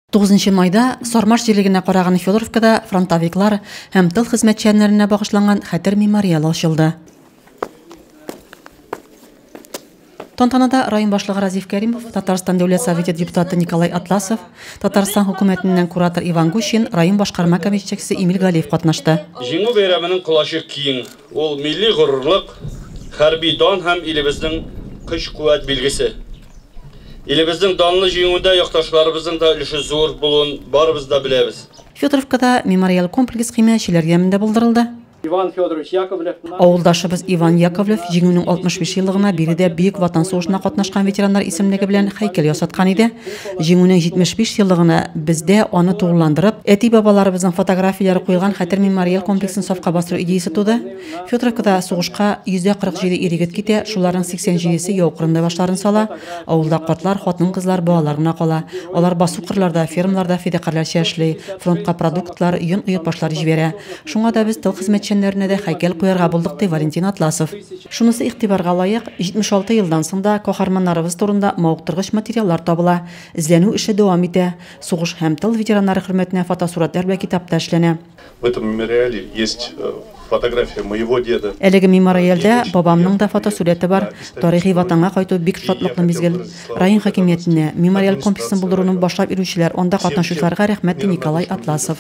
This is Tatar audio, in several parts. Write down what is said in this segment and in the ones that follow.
Тугызынчы майда Сармаш җирлегенә караган Федоровкада фронтовиклар һәм тыл хезмәтчәннәренә багышланган хәтер мемориалы ачылды. Тантанада район башлыгы Разиф Кәримов, Татарстан Дәүләт Советы депутаты Николай Атласов, Татарстан хөкүмәтеннән куратор Иван Гущин, район башкарма комитетчексе Эмиль Галиев катнашты. Җиңү бәйрәменең колачы киң, ул милли горурлык, хәрби дан һәм илебезнең көч-куәт билгесе. Илебезнең данлы җиңүендә якташларыбызның да өлеше зур булуын барыбыз да беләбез. Федоровкада мемориаль комплекс химиячеләр ямендә булдырылды. Иван Федорович Яковлев. Авылдашыбыз Иван Яковлев Җиңүнең 65 еллыгына биредә Бөек Ватан сугышына катнашкан ветераннар исемлеге белән һәйкәл ясаткан иде. Җиңүнең 75 еллыгына бездә аны тулыландырып, әти-бабаларыбызның фотографияләре куелган хәтер мемориаль комплексын сафка бастыру идеясе туды. Федоровкада сугышка 147 ир-егет китә, шуларның 87-се яу кырында башларын сала, авылда картлар, хатын-кызлар, балалар гына кала. Алар басу-кырларда, фермаларда фидакарьләрчә эшли, фронтка продуктлар, йон оеп башлар җибәрә. Шуңа да без тыл хезмәтчәннәренә дә һәйкәл куярга булдык, ди Валентин Атласов. Шунысы игътибарга лаек, 76 елдан соң да каһарманнарыбыз турында мавыктыргыч материаллар табыла, эзләнү эше дәвам итә. Сугыш һәм тыл ветераннары хөрмәтенә фотосурәтләр вә китап та эшләнә. В этом мемориале есть фотография моего деда. Әлеге мемориальдә бабамның да фотосурәте бар. Тарихи Ватанга кайту бик шатлыклы мизгел. Район хакимиятенә, мемориаль комплексын булдыруны башлап йөрүчеләр, анда катнашучыларга рәхмәт, ди Николай Атласов.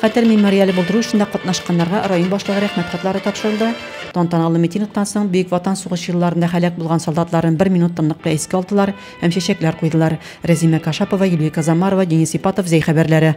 Хәтер мемориале булдыру эшендә катнашканнарга район башлыгы рәхмәт хатлары тапшырылды. Тантаналы митингтан соң Бөек Ватан сугышы елларында һәлак булган солдатларын бер минут тынлыкта искә алдылар һәм чәчәкләр куйдылар. Рәзимә Кашапова, Юлия Казамарова, Денис Ипатов, Зәй хәбәрләре.